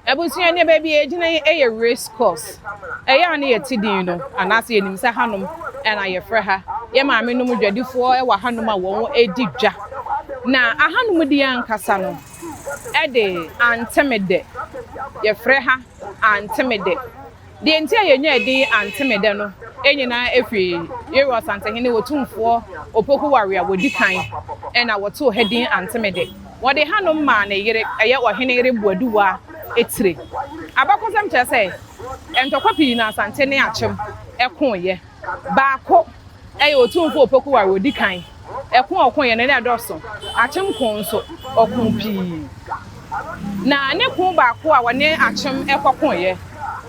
Abusua ne baabi a yɛgyina yi yɛ race course. Ɛyɛ a na yɛte din no, anaasɛ yɛnim sɛ hanom na yɛfrɛ ha. Yɛn maamenom dwadifoɔ wɔ hanom a wɔdi dwa. Na ahanom deɛ ankasa no de Antemede, yɛfrɛ ha Antemede. Deɛ nti a yɛnyaa edin Antemedɛ no nyinaa firi Yerewa Asantehene Otumfoɔ Opoku Ware a wɔdi kan na wɔtoo ha din Antemedɛ. Wɔde hanom maa ne yere, ɛyɛ Ɔhene Yere Boaduwa Etire. Abakɔsɛm kyerɛ sɛ ntɔkwa pii na Asante ne Akyem koeɛ. Baako yɛ otumfo a ɔpɛ koware, odi kan. Ɛko a ɔkoeɛ no, na ɛdɔɔso. Akyem koo nso, ɔkoo pii. Na ne koo baako a ɔne Akyem kɔkoeɛ,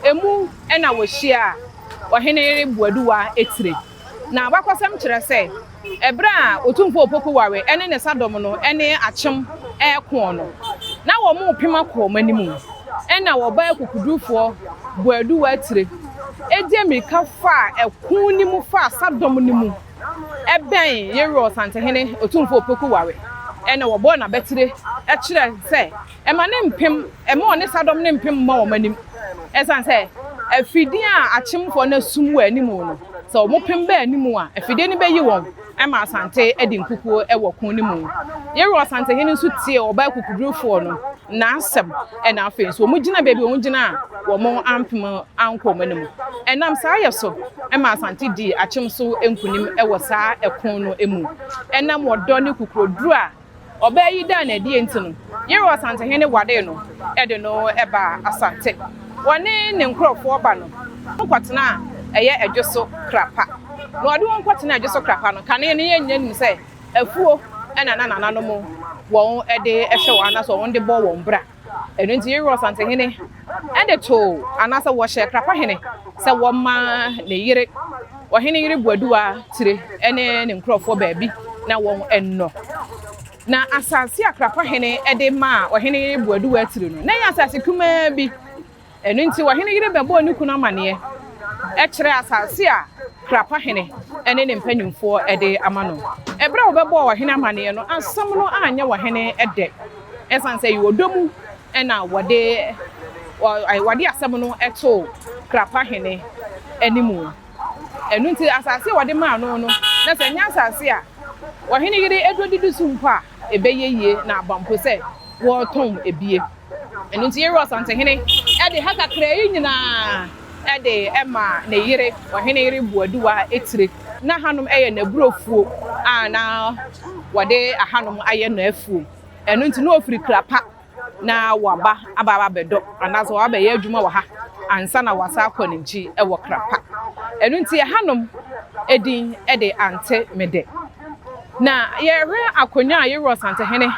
emu na wɔhyiaa Ɔhene Boaduwa tire. Na abakɔsɛm kyerɛ sɛ, Bere a Otumfo Opoku Ware ne ne sadɔm no ne Akyem reko no, na wɔrepem akɔ wɔn anim. Ɛnna wɔbaa akokodurufoɔ Boadu Watire de mmirika faa ɛko no mu faa sadɔm no mu bɛn Yerwor Santehene Otumfo Opoku Ware na wɔbɔɔ no abatire kyerɛɛ sɛ Ɛma ne mpem, ɛma ɔne sadɔm ne mpem mma wɔn anim, ɛsiane sɛ afidie a akyemfoɔ no asum wɔ anim no, sɛ wɔn pem ba anim a, afidie no bɛyi wɔn ma Asante adi nkukuo wɔ ko no mu. Yerwa Asantehene nso tiee ɔbaa akukudurufoɔ no n'asɛm, ɛna afei nso wɔgyinaa baabi a wɔgyina a wɔn ampem ankɔ wɔn anim. Ɛnam saa yɛ so ma Asante dii akyem so nkunim wɔ saa ɛko no mu. Ɛnam ɔdɔ ne kukuroduro a Ɔbaa yi daa no adi enti no, Yerah Ɔsantehene waree no de no baa Asante. Ɔne ne nkurɔfoɔ ba no ho kɔtena a ɛyɛ ɛdwo so kra pa. Na ɔde wɔn kɔtenaa ɛdwo so kra pa no, kane no yɛn nyinaa nim sɛ afuo na na nananom wɔn de hwɛ wɔn anaasɛ wɔn de bɔ wɔn bra. Ɛno nti Yeriko Asantehene de too anaasɛ wɔhyɛɛ Krapahene sɛ wɔmma ne yere, ɔhene yere Boaduwa Tire ne ne nkurɔfoɔ baabi na wɔnnɔ. Na asase a Krapahene de maa ɔhene yere Boaduwa Tire no, na ɛyɛ asase kumaa bi. Ɛno nti, ɔhene yere bɛbɔɔ ne kunu amanneɛ kyerɛɛ asase a Krapa hene ne ne mpanimfoɔ de ama no. Berɛ a wɔbɛbɔɔ ɔhene amanneɛ no, asɛm no anyɛ ɔhene dɛ, ɛsiane sɛ ɛyɛ ɔdɔ mu na wɔde asɛm no too Krapa hene anim. Ɛno nti, asase a wɔde maa no no, na sɛ ɛnyɛ asase a ɔhene yere dɔ didi so mpo a, ɛbɛyɛ yie na aba mpo sɛ wɔretɔn abie. Ɛno nti Yeriko asantehene de ha kakraa yi nyinaa de maa ne yere, ɔhene yere Boaduwa tire. Na hanom yɛ n'aburofuo a na wɔde ahanom ayɛ no afuo. Ɛno nti na ɔfiri Krapa. na waba aba abɛdɔ anaasɛ waba abɛyɛ adwuma wɔ ha ansa na wasan akɔ ne nkyi wɔ kra pa. Ɛno nti ɛhanom din de ante me dɛ. Na yɛhwɛ akonwa a Yerua Ɔsantehene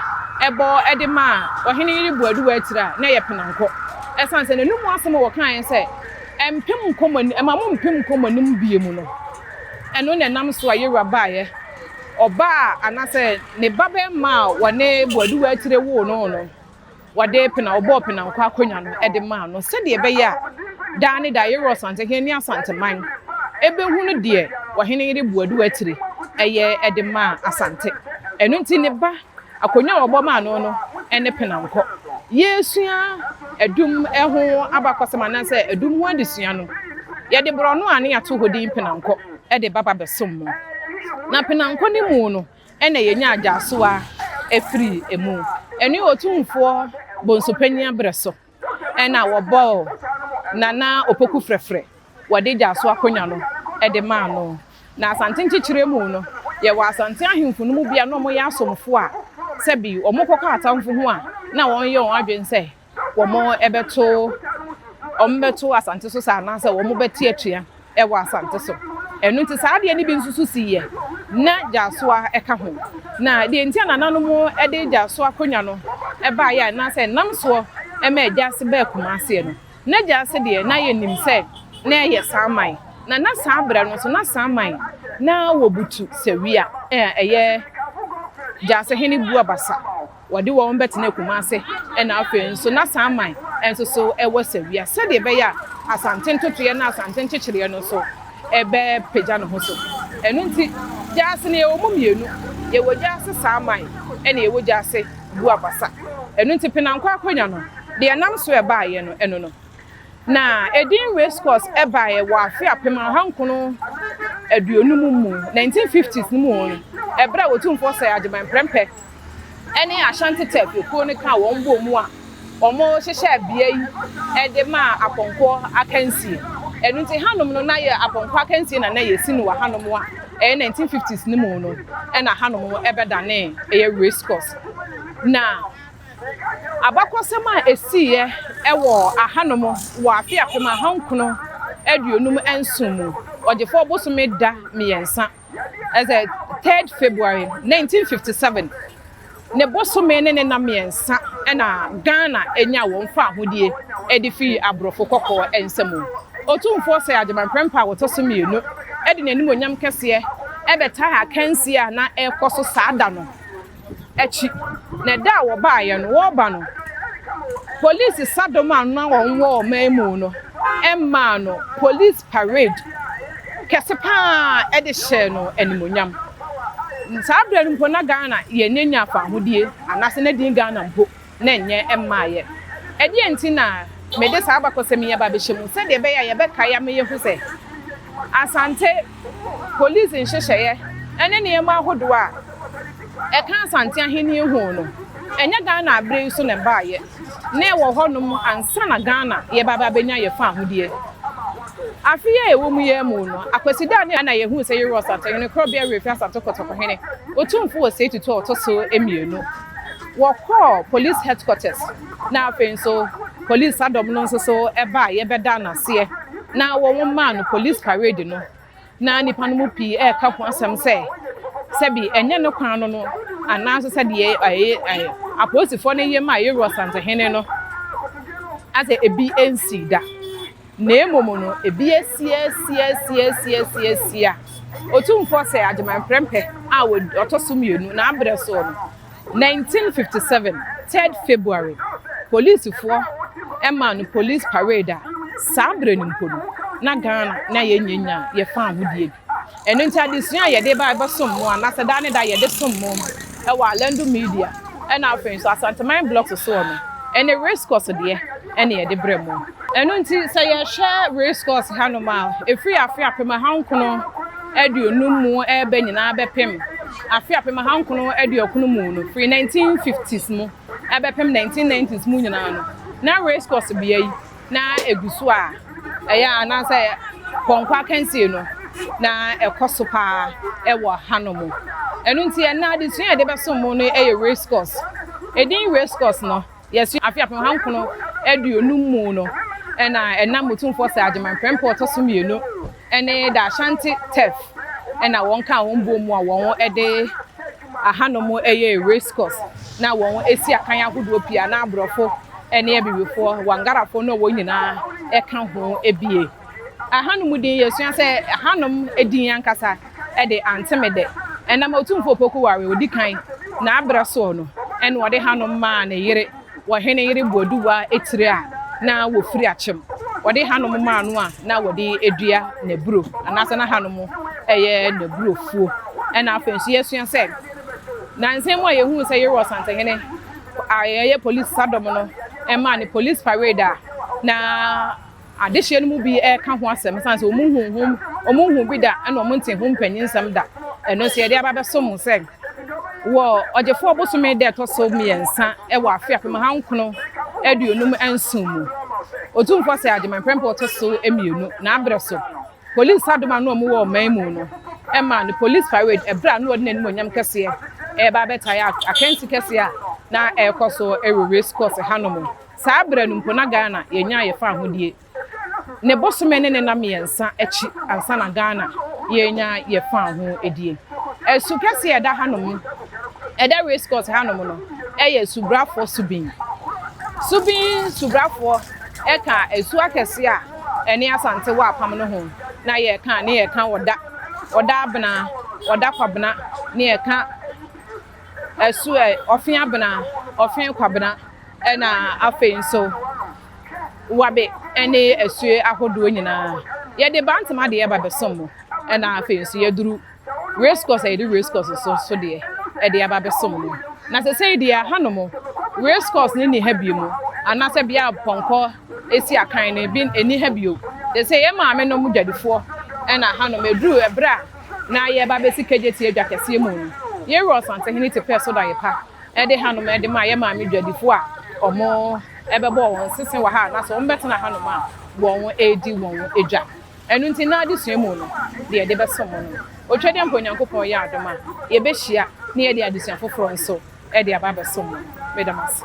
bɔ de maa ɔhene Yeribo-Aduwa akyiri a, na ɛyɛ penankɔ. Ɛsiane sɛ n'anom mu asɛm a wɔkaeɛ sɛ, Ɛmpem nkɔ mo anim, ɛma mo mpem nkɔ mo anim bio mu no, ɛno na ɛnam so a Yerua baeɛ. Ɔba a anaasɛ ne babarima a wɔne Boaduwa Akyire woo no no, wɔde pena, wɔbɔɔ penankɔ akonnwa no de maa no sɛdeɛ ɛbɛyɛ a daa ne daa Yɛworo Asantehene ne Asanteman bɛhunu deɛ Ɔheneyere Boaduwa Akyire yɛ de maa Asante. Ɛno nti ne ba, akonnwa a wɔbɔ maa no no ne penankɔ. Yɛresua adum ho abakɔsɛm anaasɛ adum ho adesua no, yɛde borɔno a na yɛato hɔ din Penankɔ. de ba babɛsom no, na penankɔ no mu no na yɛnya agyaso a firi mu. Ɛno yɛ Otumfoɔ Bonsupanyin aberɛ so na wɔbɔɔ Nana Opoku frɛfrɛ, wɔde agyaso akonya no de maa no. Na Asante nkyekyerɛ mu no, yɛwɔ Asante ahemfo no mu bi a na wɔyɛ asomfoɔ a sɛbi wɔkɔka atamfo ho a na wɔyɛ wɔn adwene sɛ wɔbɛto Asante so sa anaasɛ wɔbɛte atua wɔ Asante so. Ɛno nti saa adeɛ no bi nso so siiɛ. Na Gyasoa ka ho. Na deɛ nti a nananom de Gyasoa akonnwa no baeɛ anaasɛ ɛnam soɔ maa Gyaase baa Kumaaseɛ no, na Gyaase deɛ na yɛnim sɛ na ɛyɛ Saman. Na na saa berɛ no nso na Saman na wɔbutu Sawia a ɛyɛ Gyaasehene Buabasa Wɔde wɔn bɛtena Kumase na afei nso na saa man nso so wɔ Sawia sɛdeɛ ɛbɛyɛ a Asante ntotoeɛ ne Asante nkyekyereɛ no nso bɛpagya ne ho so. Ɛno nti, Gyaase no yɛwɔ mu mmienu, yɛwɔ Gyaase Saaman ɛna yɛwɔ Gyaase Buabasa. Ɛno nti Penankɔ Akonnwa no, deɛ ɛnam so ɛbaeɛ no ɛno no. Na ɛdin Race Course ɛbaeɛ wɔ afe apem aha nkono aduonum mu, 1950s, no mu no, ɛberɛ a Otumfoɔ Sir Agyeman Prempeh ne Ashanti Turf ekuo no kaa wɔn bɔɔ mu a wɔhyehyɛɛ bea yi de maa apɔnkɔ akansie. Ɛno nti hanom no na yɛ apɔnkɔ akansie na na yɛsi no wɔ hanom a ɛyɛ 1950s no mu no na hanom ɛbɛdanee ɛyɛ race course. Na abakɔsɛm a ɛsiiɛ ɛwɔ ahanom wɔ afe apem ahankron aduonum nson mu ɔgyefoɔ bosome da mmiɛnsa. ɛsɛ third February nineteen fifty seven ne bosome ne ne nna mmiɛnsa na Ghana enya wɔn faahodie ɛde firi aborɔfo kɔkɔɔ nsam. Otumfoɔ Sir Agyemang Prempah a ɔtɔ so mmienu ɛde n'animuonyam kɛseɛ ɛbɛtaa akansie a na ɛrekɔ so saa da no akyi. Na ɛda a wɔbaeɛ no wɔreba no polisi sadɔm a na wɔn wɔ ɔman mu no ɛmmaa no polisi. parade kɛse paa de hyɛɛ no animuonyam. Saa berɛ no mpo na Ghana yɛnyɛnya fahodie anaasɛ na din Ghana mpo na ɛnyɛ mmaeɛ. Ɛdeɛn nti na mede saa abakɔsɛm yi aba abɛhyɛ mu? Sɛdeɛ ɛbɛyɛ a yɛbɛkae ama yɛahu sɛ Asante polisi nhyehyɛeɛ ne nneɛma ahodoɔ a. Ɛka Asante Ahenni ho no, ɛnyɛ Ghana aberɛ yi so na ɛbaeɛ, na ɛwɔ hɔnom ansa na Ghana yɛreba abɛnya yɛn fawohodie. Afe yi a yɛwɔ mu yi ara mu no, Akwasidaani a na yɛhuu sɛ yɛrewɔ Asantehene Korɔbea Werɛ Firi Asante Kɔtɔkɔhene Otumfo Osei Tutu a Ɔtɔ so Mmienu. Wɔkɔɔ Police Headquarters na afei nso Police Sadɔm no nso so baeɛ bɛdaa no aseɛ na wɔn maa no Police Parade no. na nnipa no mu pii reka ho asɛm sɛ sɛbi ɛnyɛ ne kwan no no anaaso sɛ deɛ ɛyɛ ɛyɛ apolisifoɔ no yɛ maa Yeroboam Asantehene no asɛ ebi nsi da na mmom no ebi asiasiasiasiasiasia otumfoɔ sɛ agyeman prɛmpɛ a ɔtɔ so mmienu na abrɛ soɔ no 1957 3rd February polisifoɔ maa no police parade a saa berɛ no mpo no na Ghana na yɛnyanya yɛ faahodie bi ɛno nti adesua a yɛde ba ɛbɛsom mo anaasɛ daa ne da yɛde som mo ɛwɔ Alando Media ɛna afei nso Asanteman Blocks soɔ no ɛne Race Course deɛ ɛne yɛde brɛ mo ɛno nti sɛ yɛhwɛ Race Course hanom a ɛfiri afe apem ahankono aduonum mu ɛɛba nyinaa bɛpem Afe apem ahankron aduokron mu no, firi nineteen fifties mu bɛpem nineteen nineties mu nyinaa no, na racecourse bea yi na egu so a ɛyɛ a na sɛ pɔnkɔ akansie no na ɛkɔ so paa wɔ hanom. Ɛno nti ɛnnɛ adesua a yɛde bɛsom mu no yɛ racecourse. Edin racecourse no, Yɛso afe apem aha nkron aduonum mu no na ɛnam Motumfoɔ Sir Agyeman Prempeh ɔtɔ so mmienu ne The Ashanti Turf na wɔn kaa wɔn boɔ mu a wɔn de ahanom yɛ race course na wɔn si akan ahodoɔ pii a na aborɔfo ne abibifoɔ, Wangarafoɔ ne wɔn nyinaa ka ho bie. Ahanom din yɛsua sɛ Ahanom din ankasa de Antemede. Ɛnam Otumfoɔ Opoku Ware a ɔdi kan n'aberɛ soɔ no na ɔde Hanom maa ne yere wɔ Hene Yere Boaduwa tiri a na wɔfiri Akyem. Ɔde Hanom maa no a na wɔde dua n'aburo anaasɛ na Hanom yɛ n'aburofuo. Ɛna afei nso yɛsua sɛ nansa mu a yɛhunu sɛ Yere Ɔsantehene a ɛyɛ polisi sadɔm no maa no polisi parade a na Adehyeɛ no mu bi reka ho asɛm sane sɛ wɔn hu ho, wɔn hu bi da ɛna wɔn nte ho mpanyin nsɛm da. Ɛno nso yɛde aba bɛso mo sɛ wɔ ɔgyefoɔ bosome da ɛtɔ so mmiɛnsa wɔ afe apem ha nkono aduonum nson mu Otumfoɔ sɛ Agyeman prɛmpɛ ɔtɔ so mmienu n'abrɛ so polisi adom ano a wɔn wɔ ɔman mu no ɛma no polisi parade ɛbrɛ a na ɔde n'anim onyam kɛseɛ ɛreba abɛtae akansi kɛseɛ a na ɛrekɔ so ɛwɔ race course hanom. Saa berɛ no mpo na Ghana yɛnyaa yɛn faahodie ne bosome ne ne nna mmiɛnsa akyi ansa na Ghana yɛrenya yɛn faahodie. Asu kɛseɛ a ɛda hanom, ɛda Race Course hanom no yɛ Subrafoɔ Subin. Subin Subrafoɔ ka asu akɛseɛ a ɛne Asante wɔ apam no ho na yɛka ne yɛka Ɔda, Ɔda Abena, Ɔda Kwabena ne yɛka. ɛso ɛ, ɔfe abena, ɔfe kwabena ɛna afei nso wabe ɛne asue ahodoɔ nyinaa. Yɛde Bantama deɛ ba bɛsom mo ɛna afei nso yɛduru Race Course a yɛde Race Course nso so deɛ ɛde aba bɛsom mo. Na sɛsɛi deɛ hanom Race Course no nni ha biom anaasɛ bea a pɔnkɔ si akan no bi nni ha bio. Te sɛ yɛn maamenom dwadifoɔ ɛna hanom ɛduru ɛberɛ a Na yɛreba abesi Kejetia dwa kɛseɛ mu no, yɛn wura Ɔsantehene te pɛɛ so daeɛ pa de hanom de maa yɛn maame dwadifoɔ a wɔbɛbɔɔ wɔn sese wɔ ha anaasɛ wɔbɛtena hanom a wɔredi wɔn dwa. Ɛno nti, nnɛ adesua mu no, deɛ yɛde bɛsom mo no, otwadeɛ mpo Onyankopɔn yɛ adom a, yɛbɛhyia na yɛde adesua foforɔ nso de aba abɛsom mo. Meda mo ase.